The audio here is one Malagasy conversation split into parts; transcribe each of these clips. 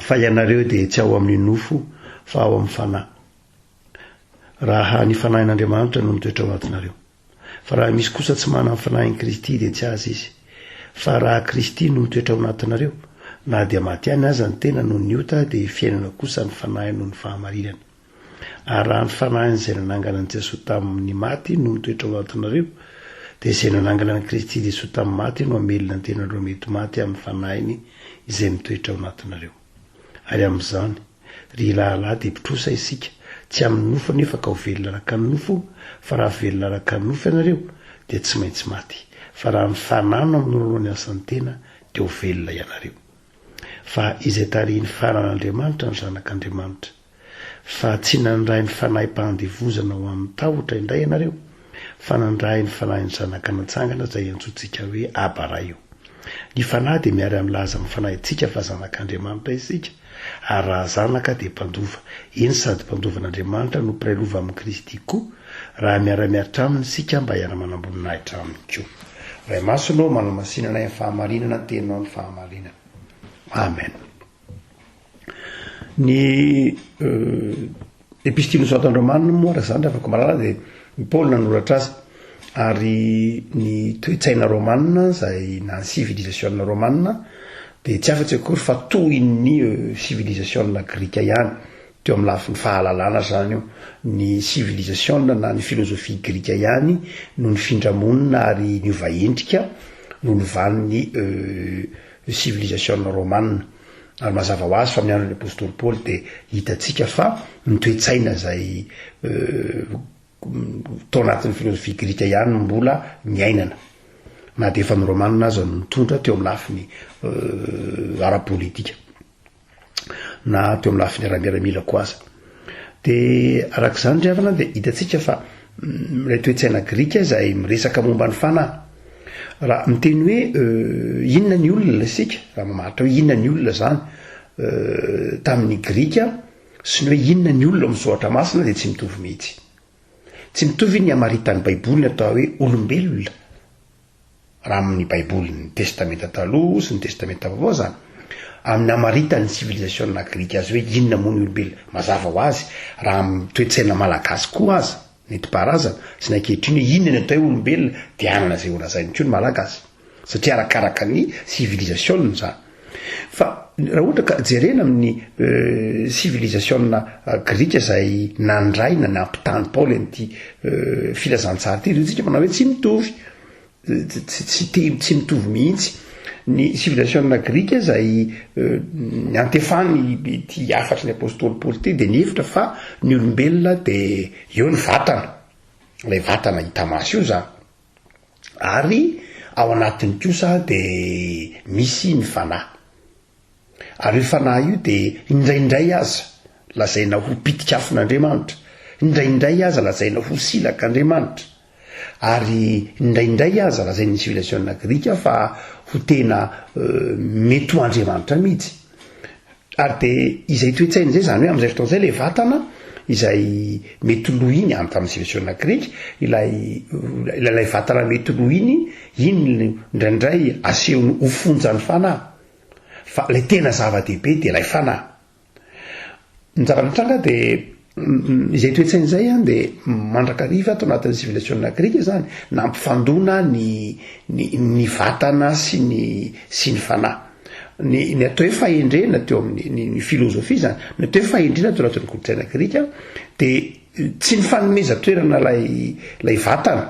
Fa ianareo dia tsy ao amin'ny nofo fa ao amin'ny Fanahy, raha ny Fanahin'Andriamanitra no mitoetra ao anatinareo. Fa raha misy kosa tsy manana ny Fanahin'i Kristy dia tsy azy izy. Fa raha Kristy no mitoetra ao anatinareo, na dia matiany aza ny tena noho ny ota dia fiainana kosa ny Fanahy noho ny fahamarinana. Ary raha ny fanahiny izay nanangana an'i Jesoa tamy ny maty no mitoetra ao anatinareo, dia izay nanangana an'i Kristy Jesoa tamy ny maty no hamelona ny tenanareo mety maty amy ny fanahiny izay mitoetra ao anatinareo. Ary amy izany, ry lahilahy, dia mpitrosa isika, tsy amy ny nofo anefa ka ho velona araka ny nofo, fa raha velona araka ny nofo ianareo, dia tsy maintsy maty, fa raha ny Fanahy no hamonoanao ny asan'ny tena, dia ho velona ianareo. Fa izay tarihin'ny faran'Andriamanitra ny Zanak'Andriamanitra. Fa tsy nandray ny fanahi-pahandevozana ho amin'ny tahotra indray ianareo, fa nandray ny fanahin'ny Zanaka natsangana izay iantsoantsika hoe Aba Ray ô. Ny Fanahy dia miary amin'ny laza amin'ny fanahintsika fa zanak'Andriamanitra isika, ary raha zanaka dia mpandova, eny sady mpandovan'Andriamanitra no mpiray lova amin'i Kristy koa, raha miara-miaritra Aminy isika mba hiara-manam-boninahitra Aminy koa. Ray Masina ô, manamasina anay amin'ny fahamarinana, teny Ao ny fahamarinana. Amen. Ny epistily ny soatan'i Romana moa raha zany raha afaka mahalala dia ny Paoly nanoratra azy ary ny toe-tsaina romana izay na ny civilisation romana dia tsy afatsy akory fa tohin'ny civilisation grika ihany teo amin'ny lafiny fahalalana zany io ny civilisation na ny filozofia grika ihany no nifindra monina ary niova endrika noho ny valin'ny ny sivilizasiona romana. Ary mazava ho azy fa miandry ny apostoly Paoly dia hitantsika fa ny toe-tsaina izay tao anatin'ny filozofia grika ihany no mbola niainana na dia efa ny romana aza no nitondra teo amin'ny lafiny ara-politika. na teo amin'ny lafiny ara-miaramila koa aza. Dia araka izany ry havana dia hitantsika fa mm, ilay toetsaina grika izay miresaka momba ny fanahy. Raha miteny hoe euh, inona ny olona isika, raha mamaritra hoe inona ny olona izany euh, tamin'ny grika sy ny hoe inona ny olona amin'ny soratra masina dia tsy mitovy mihitsy. Tsy mitovy ny hamaritan'ny Baiboly ny atao hoe olombelona raha amin' ny Baiboly, ny Testamenta Taloha sy ny Testamenta Vaovao izany, amin' ny hamaritan' ny sivilizasiôna grika azy hoe inona moa ny olombelona. Mazava ho azy, raha amin' ny toe-tsaina malagasy koa aza, nentim-paharazana, sy ny ankehitriny hoe inona ny atao hoe olombelona dia hanana izay holazainy koa ny Malagasy, satria arakaraka ny sivilizasiôna izany. Fa raha ohatra ka jerena amin'ny sivilizasiona grika izay nandray na nampitany Paoly an'ity filazantsara ity, ry tsika manao hoe tsy mitovy, tsy te tsy mitovy mihitsy ny sivilizasiona grika izay niantefany ity hafatry ny apostoly Paoly ity dia nihevitra fa ny olombelona dia eo ny vatana, ilay vatana hita maso io izany. Ary ao anatiny kosa dia misy ny fanahy. Ary io fanahy io dia indraindray aza lazaina ho pitikafon'Andriamanitra, indraindray aza lazaina ho silak'Andriamanitra, ary indraindray aza lazain'ny sivilizasiona grika fa ho tena mety ho Andriamanitra mihitsy. Ary dia izay toe-tsaina izay, izany hoe amin'izay fotoana izay ilay vatana izay mety lo iny, any tamin'ny sivilizasiona grika, ilay ilay vatana mety lo iny, iny indraindray asehony ho fonjan'ny fanahy. Fa ilay tena zava-dehibe dia ilay fanahy. Ny zava-nitranga dia Izay toe-tsaina izay an dia mandrakariva ato anatin'ny sivilizasiona grika izany nampifandona ny ny ny vatana sy ny sy ny fanahy. Ny ny atao hoe fahendrena teo amin'ny ny filozofia izany, ny atao hoe fahendrena teo anatin'ny kolontsaina grika dia tsy nifanomeza toerana ilay ilay vatana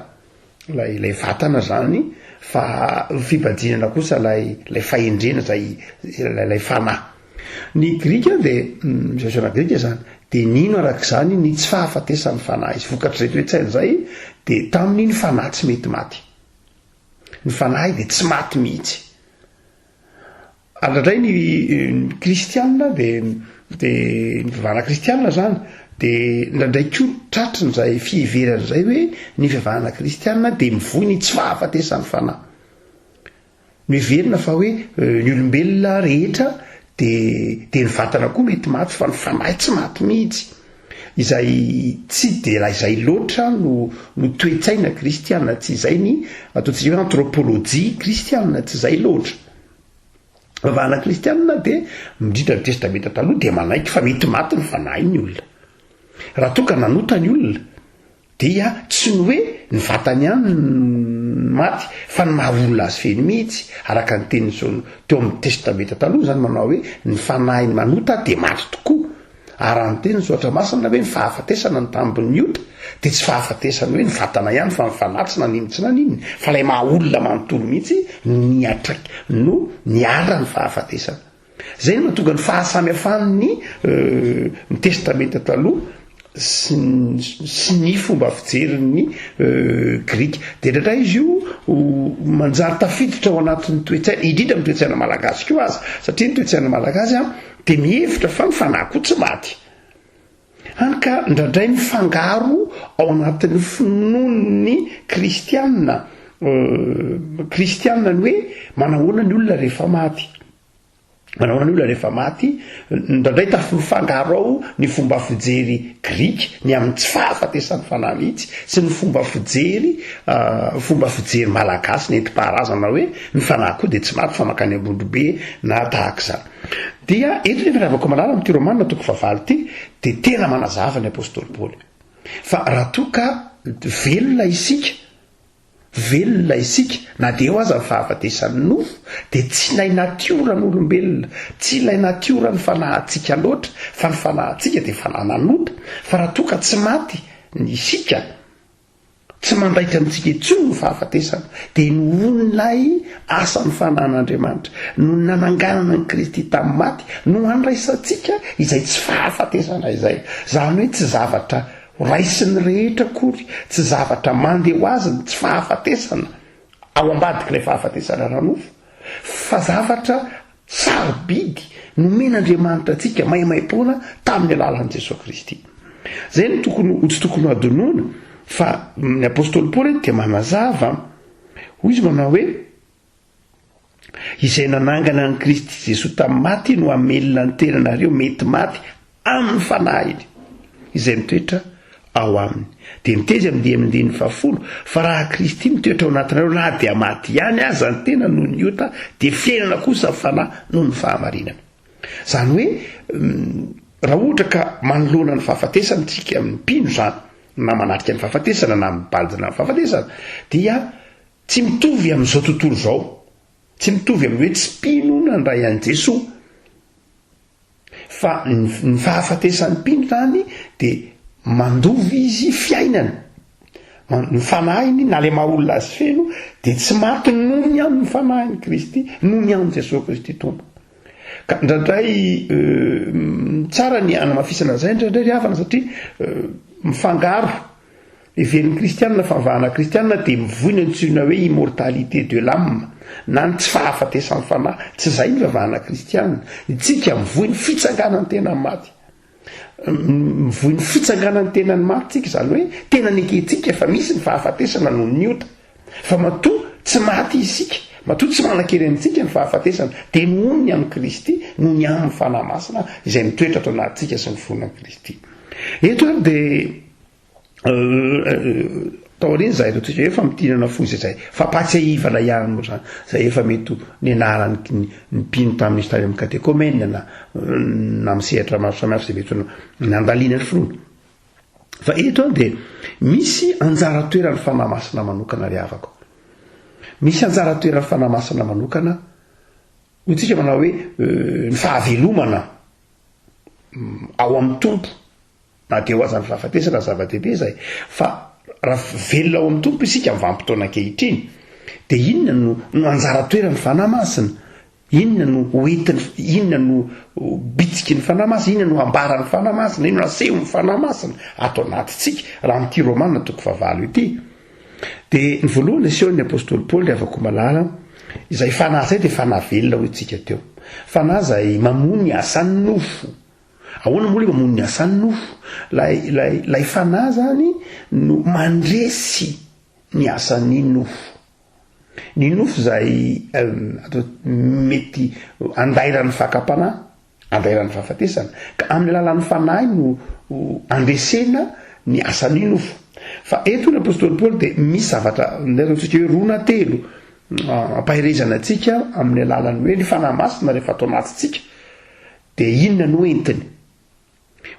ilay ilay vatana zany fa fibadinana kosa lay lay fahendrena zay lay fanahy ny grika de zazana mm, grika zany de nino arak'izany ny tsy fahafatesan'ny fanahy izy vokatr'izay toetsaina zay de tamin'ny ny fanahy tsy mety maty ny fanahy de tsy maty mihitsy Ary indray ny kristianina dia dia ny fivavahana kristianina izany dia indraindray koa tratrin'izay fiheverana izay hoe ny fivavahana kristianina dia mivoy ny tsy fahafatesan'ny fanahy. Noheverina fa hoe euh, ny olombelona rehetra dia dia ny vatana koa mety maty fa ny fanahy tsy maty mihitsy izay tsy dia raha izay loatra no no toetsaina kristianina tsy izay ny ataontsika hoe anthropologie kristianina tsy izay loatra Vavahana kristianina dia midrindra ny Testamenta Taloha dia manaiky fa mety maty ny fanahy ny olona. Raha toa ka nanota ny olona dia tsy ny hoe ny vatany ihany no maty fa ny maha olona azy feno mihitsy araka ny tenin'ny teo amin'ny Testamenta Taloha izany manao hoe ny fanahin'ny manota dia maty tokoa. A Raha niteny ny Soratra Masina hoe ny fahafatesana ny tambin'ny ota, dia tsy fahafatesan'ny hoe ny vatana ihany fa ny fanahy tsy naninona tsy naninona, fa ilay maha olona manontolo mihitsy no niatraik no niara ny fahafatesana. Izay no mahatonga ny fahasamihafan'ny ny Testamenta Taloha sy sy ny fomba fijerin'ny Grika. Dia indraindray izy io manjary tafiditra ao anatin'ny toe-tsaina, indrindra amin'ny toe-tsaina malagasy koa aza, satria ny toe-tsaina malagasy a Dia mihevitra fa ny fanahy koa tsy maty. Hany ka indraindray mifangaro ao anatin'ny finoan'ny kristiana, kristiana ny hoe manahoana ny olona rehefa maty. Manahoana ny olona rehefa maty, indraindray tafimifangaro ao ny fomba fijery grika, ny amin'ny tsy fahafatesan'ny fanahy mihitsy, sy ny fomba fijery, fomba fijery malagasy nentim-paharazana hoe ny fanahy koa dia tsy maty fa mankany ambondrobe na tahaka izany. Dia eto nefa ny avako malala amin'ity Romana toko fahavalo ity dia tena manazava ny apostoly Paoly fa raha toa ka velona isika velona isika na dia eo aza ny fahafatesan'ny nofo dia tsy ilay natioran'olombelona tsy ilay natioran'ny fanahantsika loatra fa ny fanahantsika dia fanahy nanota fa raha toa ka tsy maty ny isika Tsy mandaitra amintsika intsony ny fahafatesana, dia nohon'ilay asan'ny fananan'Andriamanitra, noho ny nananganana an'i Kristy tamin'ny maty no handraisantsika izay tsy fahafatesana izay. Izany hoe tsy zavatra horaisin'ny rehetra akory, tsy zavatra mandeha ho azy ny tsy fahafatesana ao ambadik'ilay fahafatesana ara-nofo, fa zavatra Sarobidy nomen'Andriamanitra antsika maimaimpoana tamin'ny alalan'i Jesoa Kristy. Izay no tokony ho tsy tokony hadinoina fa ny apostoly Paoly eto dia manazava. Hoy izy manao hoe izay nanangana an'i Kristy Jesoa tamin'ny maty no hamelona ny tenanareo mety maty Amin'ny fanahiny, izay mitoetra ao aminy. Dia niteny amin'ny dian'ny andininy fahafolo, Fa raha Kristy mitoetra ao anatinareo, na dia maty ihany aza ny tena noho ny ota, dia fiainana kosa ny fanahy noho ny fahamarinana. Izany hoe, raha ohatra ka manoloana ny fahafatesana isika, amin'ny mpino izany, na manatrika ny fahafatesana, na mibanjina amin'ny fahafatesana, dia tsy mitovy amin'izao tontolo izao. Tsy mitovy amin'ny hoe tsy mpino nandray an'i Jesoa. Fa ny fahafatesan'ny mpino izany dia mandova izy fiainana. Ny fanahiny na le maha olona azy feno dia tsy maty noho ny amin'ny fanahin'i Kristy, noho ny amin'i Jesoa Kristy Tompo. Ka indraindray euh, tsara ny anamafisana an'izay indraindray ry havana satria euh, mifangaro Heverin'ny Kristianina fa ny vahana kristianina dia mivoy ny antsoina hoe immortalité de l'âme, na ny tsy fahafatesan'ny fanahy. Tsy izay ny vavahana kristianina. Ny tsika mivoy ny fitsanganan'ny tena amin'ny maty. Mivoy ny fitsanganan'ny tena ny maty tsika, izany hoe tena nekentsika fa misy ny fahafatesana noho ny ota. Fa matoa tsy maty isika, matoa tsy manan-kery amintsika ny fahafatesana, dia nohon'ny amin'i Kristy, noho ny amin'ny fanahy masina izay mitoetra ato anatintsika sy ny fonan'i Kristy. Eto ary dia taoriana zay reo tsika efa mitinana fo izay zay fampahatsiahivana ihany moa zany zay efa mety nenarany ny mpino tamin'izy tany amin'ny katekomena na na amin'ny sehatra maro samihafa zay mety nandaliana ny finoana fa eto dia misy anjara toeran'ny fanahy masina manokana ry havako misy anjara toeran'ny fanahy masina manokana ho tsika manao hoe euh, ny fahavelomana mm, ao amin'ny tompo Na dia ho aza ny fahafatesana no zava-dehibe izay, fa raha velona ao amin'ny Tompo isika amin'ny vanim-potoana ankehitriny, dia inona no, no anjara toeran'ny Fanahy Masina? Inona no ho entiny, inona no ho bitsiky ny Fanahy Masina, inona no hambaran'ny Fanahy Masina, inona no asehon'ny Fanahy Masina ato anatintsika, raha amin'ity Romana toko fahavalo ity? Dia ny voalohany asehon'ny Apostoly Paoly, havako malala, izay Fanahy izay dia Fanahy velona hoy tsika teo. Fanahy izay mamoa ny asan'ny nofo, Ahoana moa le mamono ny asan'ny nofo? Lay lay lay fanahy zany no mandresy ny asan'ny nofo. Ny nofo zay atao mety andairan'ny fakam-panahy, andairan'ny fahafatesana. Ka amin'ny alalan'ny fanahy no andresena ny asan'ny nofo. Fa eto ny apostoly Paoly dia misy zavatra ndray ataontsika hoe roa na telo ampaherezana antsika amin'ny alalan'ny hoe ny fanahy masina rehefa atao anatintsika Dia inona no entiny?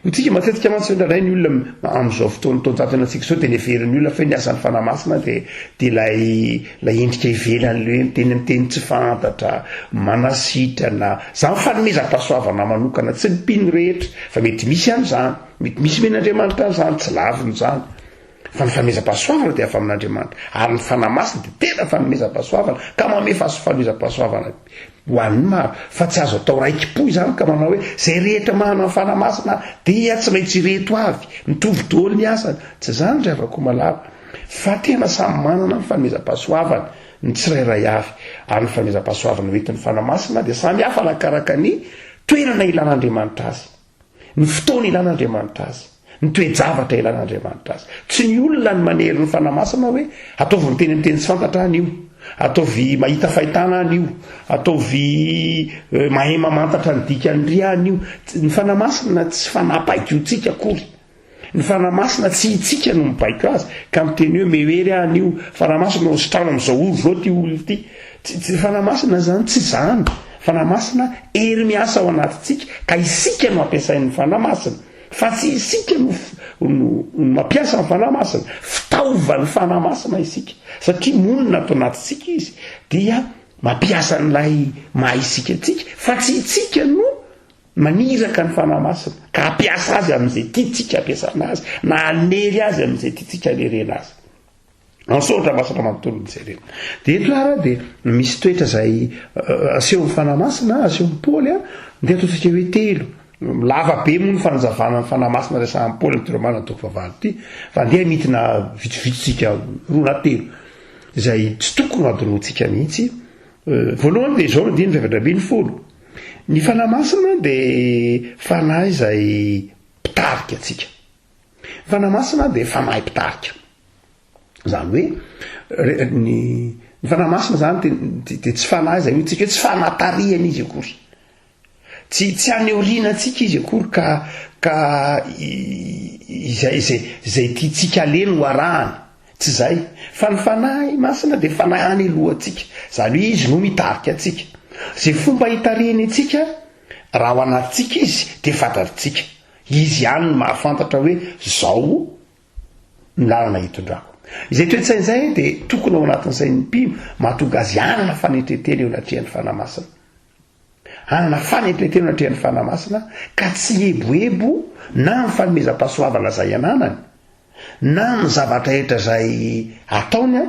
Ho tsika matetika mantsy indraindray ny olona amin'izao fotoan'ny taonjatona antsika izao dia ny heverin'ny olona fa hoe ny asan'ny fanahy masina dia dia ilay ilay endrika ivelany ilay hoe miteny amin'ny teny tsy fantatra, manasitrana, izany ny fanomezam-pahasoavana manokana tsy ny mpino rehetra fa mety misy an'izany, mety misy men'Andriamanitra an'izany, tsy laviny izany. Fa ny fanomezam-pahasoavana dia avy amin'Andriamanitra, ary ny Fanahy Masina dia tena fanomezam-pahasoavana, ka manome fahasofanomezam-pahasoavana ho an'ny maro. Fa tsy azo atao raiki-po izany ka manao hoe, Izay rehetra manana ny Fanahy Masina dia tsy maintsy ireto avy, mitovy daholo ny asany. Tsy izany ry hava-komalala, fa tena samy manana ny fanomezam-pahasoavany ny tsirairay avy, ary ny fanomezam-pahasoavana hoentin'ny Fanahy Masina dia samy hafa arakaraka ny toerana ilan'Andriamanitra azy. Ny fotoana ilan'Andriamanitra azy. Ny toe-javatra ilan'Andriamanitra azy. Tsy ny olona no manery ny Fanahy Masina hoe, ataovy miteny amin'ny teny tsy fantatra any io, ataovy mahita fahitana any io, ataovy mahay mamantatra ny dikan'ny riha any io. Ny Fanahy Masina tsy fanapaikiontsika akory. Ny Fanahy Masina tsy hitsika no mibaiko azy ka miteny hoe mehery aho anio Fanahy Masina no asitrano amin'izao ora izao ity olona ity. Tsy tsy Fanahy Masina izany tsy izany. Fanahy Masina hery miasa ao anatintsika ka isika no ampiasain'ny Fanahy Masina fa tsy isika no no mampiasa ny Fanahy Masina. Fitaovan'ny Fanahy Masina isika satria monina ato anatintsika izy dia mampiasa an'ilay maha isika antsika fa tsy itsika no Maniraka ny Fanahy Masina ka hampiasa azy amin'izay tiantsika hampiasana azy na hanery azy amin'izay tiantsika hanerena azy. Ansoratra masina manontolo ny jerena. Dia eto ara dia misy toetra izay asehon'ny Fanahy Masina, asehon'ny Paoly a, dia ataontsika hoe telo. Lava be moa ny fanazavana ny Fanahy Masina resahan'i Paoly amin'ity Romana toko fahavalo ity, fa andeha hamitina vitsivitsy tsika roa na telo izay tsy tokony hadinoantsika mihitsy. Voalohany dia izao ny andininy faefatra ambin'ny folo. Ny Fanahy Masina dia Fanahy izay mpitarika antsika. Ny Fanahy Masina dia Fanahy mpitarika. Izany hoe, ny, ny Fanahy Masina izany dia, dia tsy Fanahy izay hotsika hoe tsy Fanahy tarihana izy akory. Tsy, tsy any aoriana antsika izy akory ka, ka izay, izay, izay tiantsika alehany ho arahany. Tsy izay, fa ny Fanahy Masina dia Fanahy haneloantsika, izany hoe Izy no mitarika antsika. Izay fomba hitarihiny antsika, raha ao anatintsika Izy, dia fantatritsika. Izy ihany no mahafantatra hoe izao ny lalana hitondrako. Izay toe-tsaina izay dia tokony ao anatin'ny sain'ny mpino, mahatonga azy hanana fanetren-tena eo anatrehan'ny Fanahy Masina. Hanana fanetren-tena eo anatrehan'ny Fanahy Masina ka tsy hieboebo na amin'ny fanomezam-pahasoavana izay ananany na amin'ny zavatra rehetra izay ataony aho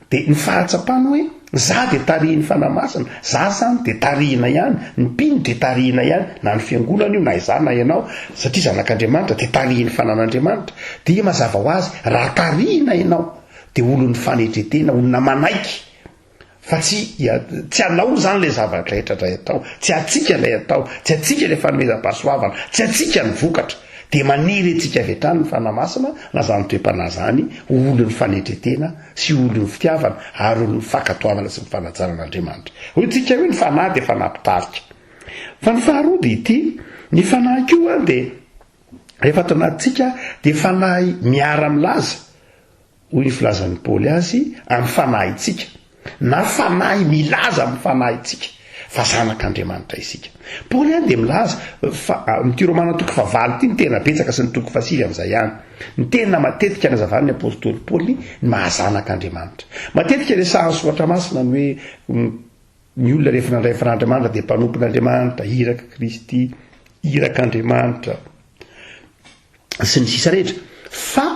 dia ny fahatsapany hoe za dia tarihin'ny Fanahy Masina, za izany dia tarihina ihany, ny mpino dia tarihina ihany, na ny fiangonana io na izaho na ianao, satria zanak'Andriamanitra dia tarihin'ny fanan'Andriamanitra. Dia mazava ho azy, raha tarihina ianao dia olon'ny fanetren-tena, olona manaiky Fa tsy ia, tsy anao zany le zava-drehetra dray atao, tsy antsika lay atao, tsy antsika le fanomezam-pahasoavana, tsy antsika ny vokatra. Dia maniry antsika avy hatrany ny Fanahy Masina na zany toe-panahy zany ho olon'ny fanetretena sy ho olon'ny fitiavana ary olon'ny fankatoavana sy ny fanajana an'Andriamanitra. Hoy tsika hoe ny Fanahy dia Fanahy mpitarika. Fa ny faharoa dia ity, ny Fanahy koa dia rehefa ato anatintsika dia Fanahy miara-milaza. Hoy ny filazan'i Paoly azy, amin'ny fanahintsika, na fanahy milaza amin'ny fanahintsika, fa zanak'Andriamanitra isika. Paoly ihany dia milaza fa, amin'ity Romana toko fahavalo ity, ny tena betsaka sy ny toko fahasivy amin'izay ihany. Ny tena matetika nazavan'ny apostoly Paoly ny maha zanak'Andriamanitra. Matetika resahan'ny Soratra Masina ny hoe ny olona rehefa nandray ny Fanan'Andriamanitra dia mpanompon'Andriamanitra, iraka Kristy, irak'Andriamanitra, sy ny sisa rehetra. Fa.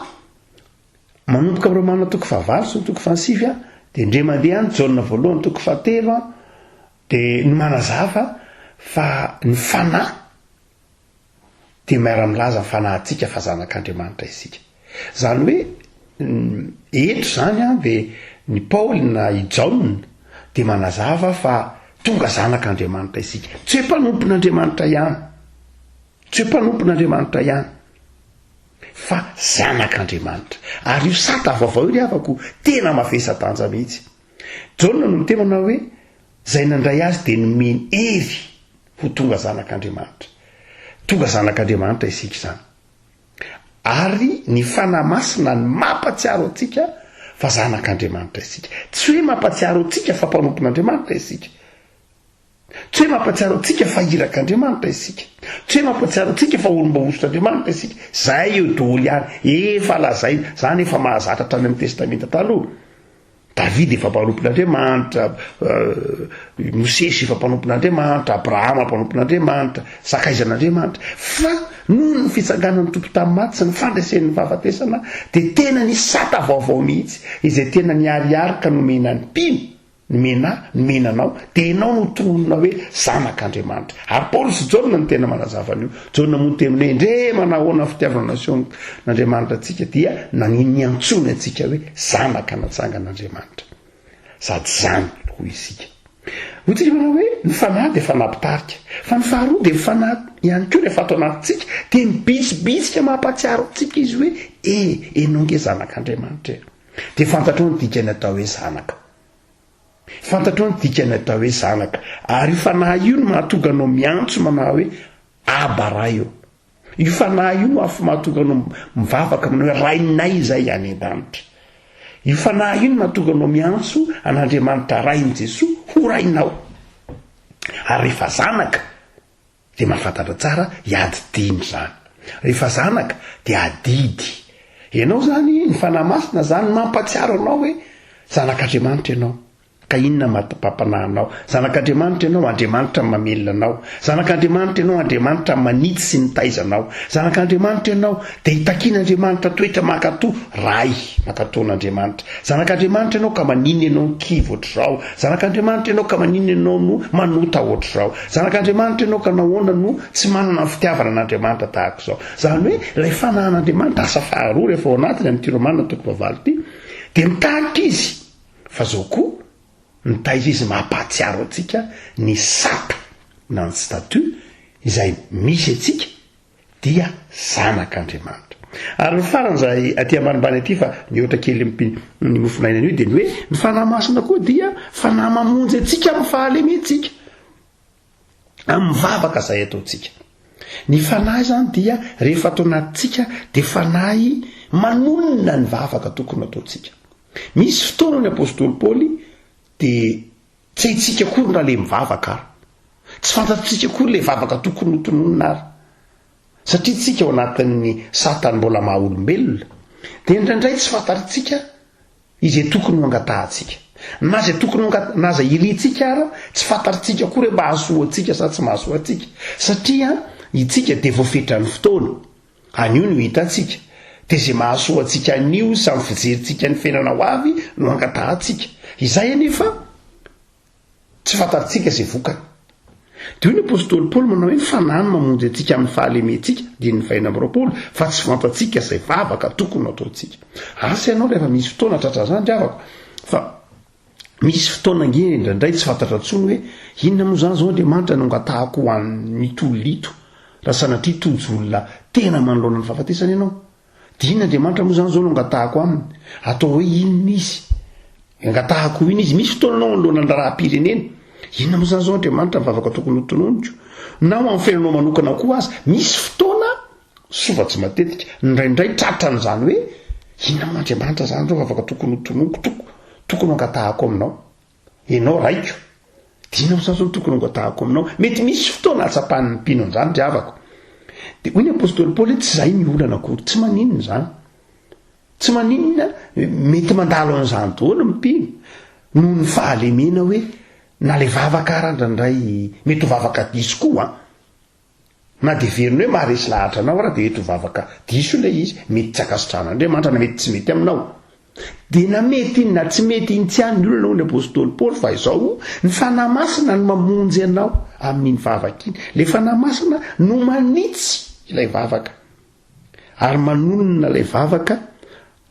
Manomboka amin'ireo manana toko fahavalo sy ny toko fahasivy an, dia ndre mandeha any Jaona voalohany toko fahatelo an, dia no manazava fa ny fanahy dia miara-milaza ny fanahintsika fa zanak'Andriamanitra isika. Izany hoe eto izany an dia ny Paoly na i Jaona dia manazava fa tonga zanak'Andriamanitra isika. Tsy hoe mpanompon'Andriamanitra ihany. Tsy hoe mpanompon'Andriamanitra ihany. fa zanak'Andriamanitra. Ary io sata vaovao io ry havako, tena mavesa-danja mihitsy. Jaona no miteny manao hoe, Izay nandray azy dia nomeny hery ho tonga zanak'Andriamanitra. Tonga zanak'Andriamanitra isika izany. Ary ny Fanahy Masina no mampatsiaro antsika fa zanak'Andriamanitra isika. Tsy hoe mampatsiaro antsika fa mpanompon'Andriamanitra isika. Tsy hoe mampatsiaro antsika fa irak' Andriamanitra isika. Tsy hoe mampatsiaro antsika fa olom-bahosotra Andriamanitra isika. Izay eo doholy ihany. Efa lazaina. Izany efa mahazatra hatrany amin'ny Testamenta Taloha. Davida efa mpanompon' Andriamanitra, Mosesy efa mpanompon' Andriamanitra, Abrahama mpanompon' Andriamanitra, sakaizan' Andriamanitra. Fa noho ny fitsanganan' ny Tompo tamin'ny maty sy ny fandreseny ny fahafatesana dia tena nisy sata vaovao mihitsy izay tena niharihary ka nomena ny mpino. Nomena ahy, nomena anao, dia ianao no tononina hoe Zanak' Andriamanitra. Ary Paoly sy Jaona no tena manazava an'io. Jaona moa niteny hoe, Ndre manahoana ny fitiavana naseho n'Andriamanitra antsika, dia nanin niantsoany antsika hoe Zanaka natsangan' Andriamanitra. Sady izany hoy isika. Hoy tsika manao hoe, ny fanahy dia fanahy mpitarika. Fa ny faharoa dia ny fanahy ihany koa rehefa ato anatintsika, dia mibitsibitsika mampahatsiaro antsika izy hoe, E, ianao nge Zanak' Andriamanitra e. Dia fantatrao ny dikan'ny atao hoe zanaka. Fantatrao ny dikan'ny atao hoe zanaka. Ary io fanahy io no mahatonga anao miantso manao hoe aba ray eo. Io fanahy io no afo mahatonga anao mivavaka manao hoe rainay izay any an-danitra. Io fanahy io no mahatonga anao miantso an'Andriamanitra Rain'i Jesoa ho rainao. Ary rehefa zanaka, Dia mahafantatra tsara i ady dimy zany. Rehefa zanaka dia adidy ianao zany ny Fanahy Masina zany mampatsiaro anao hoe zanak'Andriamanitra ianao. Ka inona mahatpapanahy anao? Zanak'Andriamanitra ianao, Andriamanitra no mamelona anao. Zanak'Andriamanitra ianao, Andriamanitra no manitsy sy nitaiza anao. Zanak'Andriamanitra ianao, dia itakian'Andriamanitra toetra mankato, Ray, mankato an'Andriamanitra. Zanak'Andriamanitra ianao ka maninona ianao no kivy ohatr'izao? Zanak'Andriamanitra ianao ka maninona ianao no manota ohatr'izao? Zanak'Andriamanitra ianao ka nahoana no tsy manana ny fitiavana an'Andriamanitra tahaka izao? Izany hoe ilay fanahan'Andriamanitra asa faharoa rehefa ao anatiny amin'ity Romana toko fahavalo ity dia mitarika izy fa izao koa mitaiza izy mampahatsiaro antsika ny sata na ny statut izay misy antsika dia zanak' Andriamanitra. Ary ny farany izay aty ambanimbany aty fa mihoatra kely mpy ny mofonainany io dia ny hoe ny fanahy masina koa dia fanahy mamonjy antsika amin'ny fahalementsika amin'ny vavaka izay ataontsika. Ny fanahy izany dia rehefa atao anatintsika dia fanahy manonona ny vavaka tokony ataontsika. Misy fotoana ny apostoly Paoly dia Tsy haintsika akory ny raleha mivavaka ary tsy fantatritsika akory ilay vavaka tokony ho tononina ary. Satria tsika ao anatin'ny satany mbola maha olombelona dia indraindray tsy fantatritsika izay tokony ho angatahantsika. Na izay tokony ho na izay irintsika ary tsy fantatritsika akory hoe mahasoa antsika sa tsy mahasoa antsika satria itsika dia voafetran'ny fotoana. Anio no hitantsika, dia izay mahasoa antsika anio sy amin'ny fijerintsika ny fiainana ho avy no angatahantsika. Izay anefa tsy fantatrtsika izay vokany. Dia hoy ny apostoly Paoly manao hoe ny Fanahy no mamonjy antsika amin'ny fahalementsika, Andininy faheno amby roapolo, fa tsy fantatsika izay vavaka tokony ho ataontsika. Asa ianao rehefa misy fotoana tratran'izany ry havako, fa Misy fotoana ange indraindray tsy fantatra intsony hoe inona moa izany izao Andriamanitra no angatahako ho an'ny tolona ito raha sanatria tojo olona tena manoloana ny fahafatesana ianao. Dia inona Andriamanitra moa izany izao no angatahako aminy? Atao hoe inona izy? Angatahako ho inona izy? Misy fotoana anao anoloana ny raharaham-pirenena, inona moa izany izao Andriamanitra ny vavaka tokony hotononiko? Na ho an'ny fiainanao manokana koa aza, misy fotoana Soa tsy matetika, indraindray tratra an'izany hoe, Inona moa Andriamanitra izany ireo vavaka tokony ho tononiko, toko, tokony ho angatahako aminao? Ianao Raiko, dia inona moa izany izao no tokony ho angatahako aminao? Mety misy fotoana ahatsapan'ny mpino an'izany ry havako. Dia hoy ny apostoly Paoly hoe, Tsy izay ny olana akory. Tsy maninona izany. Tsy maninona, mety mandalo an'izany daholo ny mpino, noho ny fahalemena hoe, na ilay vavaka ara indraindray, mety ho vavaka diso koa. Na dia heveriny hoe maharesy lahatra anao ary dia eto vavaka diso ilay izy, mety tsy ankasitrahan'Andriamanitra, na mety tsy mety aminao. Dia na mety iny na tsy mety iny tsy ihany ny olona hoy ny apostoly Paoly fa izao, ny Fanahy Masina no mamonjy anao amin'iny vavaka iny. Ilay Fanahy Masina no manitsy ilay vavaka. ary manonona ilay vavaka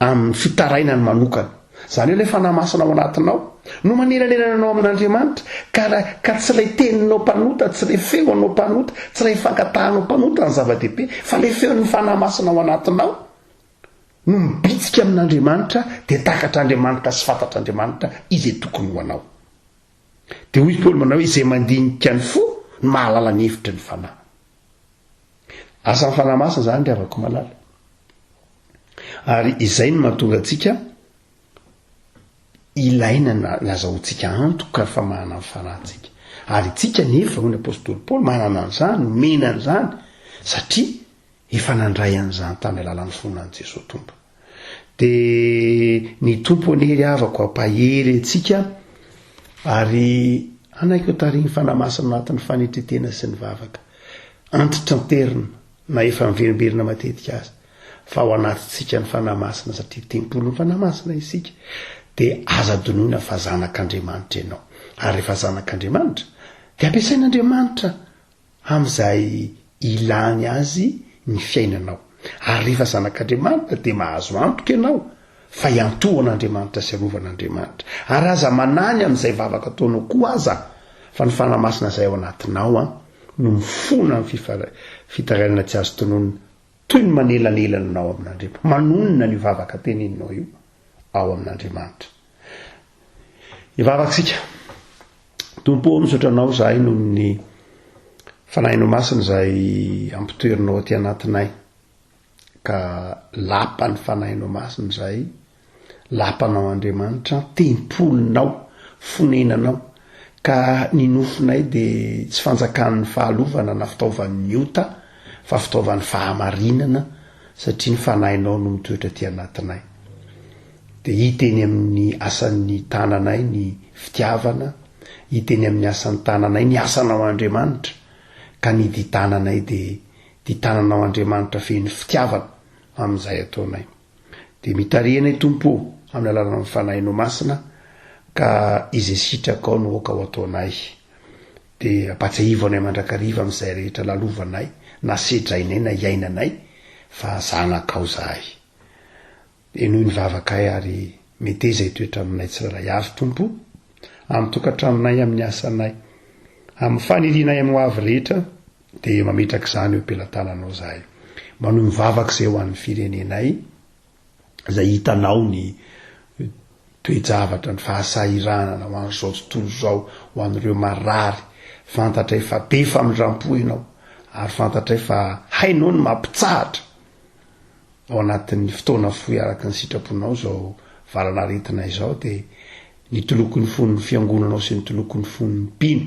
amin'ny fitarainany manokana. Izany hoe ilay fanahy masina ao anatinao no manelanelana anao amin'Andriamanitra, ka, ka tsy ilay teninao mpanota, tsy ilay feonao mpanota, tsy ilay fankatahanao mpanota ny zava-dehibe, fa ilay feon'ny fanahy masina ao anatinao no mibitsika amin'Andriamanitra, dia takatr'Andriamanitra sy fantatr'Andriamanitra izay tokony ho anao. Dia hoy i Paoly manao hoe izay mandinika ny fo no mahalala ny hevitry ny Fanahy. Asan'ny Fanahy Masina izany ry havako malala. Ary izay no mahatonga antsika ilaina na nazahoantsika antoka fa manana ny fanahintsika. Ary itsika nefa hoy ny apostoly Paoly manana an'izany, nomena an'izany satria Efa nandray an'izany tamin'ny alalan'ny fony an'i Jesoa Tompo. Dia ny Tompo anie ry havako hampahery antsika ary hanaiky ho tarihin'ny Fanahy Masina ao anatin'ny fanetren-tena sy ny vavaka. Antitranterina na efa miverimberina matetika aza fa ao anatintsika ny Fanahy Masina satria tempolin'ny Fanahy Masina isika. Dia aza adinoina fa zanak'Andriamanitra ianao. Ary rehefa zanak'Andriamanitra dia ampiasain'Andriamanitra amin'izay ilany azy ny fiainanao. Ary rehefa zanak'Andriamanitra dia mahazo antoka ianao fa iantohan'Andriamanitra sy arovan'Andriamanitra. Ary aza manany amin'izay vavaka ataonao koa aza fa ny Fanahy Masina izay ao anatinao an, no mifona amin'ny fifar, fitarainana tsy azo tononina, toy ny manelanelana anao amin'Andriamanitra, manonona an'io vavaka teneninao io ao amin'Andriamanitra. Hivavaka isika. Tompo ô, misaotra Anao izahay noho ny Fanahinao Masina izay ampitoerinao aty anatinay. Ka lapan'ny Fanahinao Masina izahay, lapanao Andriamanitra, tempolinao, fonenanao. Ka ny nofinay dia tsy fanjakan'ny fahalovana na fitaovan'ny ota fa fitaovan'ny fahamarinana satria ny Fanahinao no mitoetra aty anatinay. Dia hita eny amin'ny asan'ny tananay ny fitiavana, hita eny amin'ny asan'ny tananay ny asanao Andriamanitra, ka ny di tananay dia di tananao Andriamanitra feno fitiavana amin'izay ataonay. Dia mitariha anay Tompo ô amin'ny alalan'ny Fanahinao Masina ka izay sitrakao no aoka ho ataonay. Dia ampatsiahivo anay mandrakariva amin'izay rehetra lalovanay na sedrainay na iainanay fa zanakao zahay. Henoy ny vavakay ary meteza hitoetra aminay tsirairay avy, Tompo o, amin'ny tokantranonay, amin'ny asanay, amin'ny fanirianay amin'ny hoavy rehetra, dia mametraka izany eo am-pelatananao izahay. Manohy ny vavaka izay ho an'ny firenenay, izay hitanao ny toe-javatra, ny fahasahiranana ho an'izao tontolo izao, ho an'ireo marary, fantatray fa be famindram-po Ianao, ary fantatray fa hainao ny mampitsahatra, Ao anatin'ny fotoana fohy araka ny sitraponao izao valanaretina izao dia ny toloko ny fon'ny fiangonanao sy ny toloko ny fon'ny mpino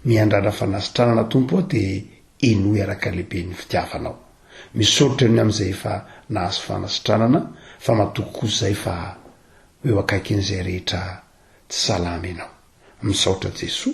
miandrandra fanasitranana Tompo ô dia henoy araka le be ny fitiavanao. Misaotra ny amin'izay efa nahazo fanasitranana fa matoky kosa izay fa ho eo akaikin'izay rehetra tsy salama ianao. Misaotra Jesoa.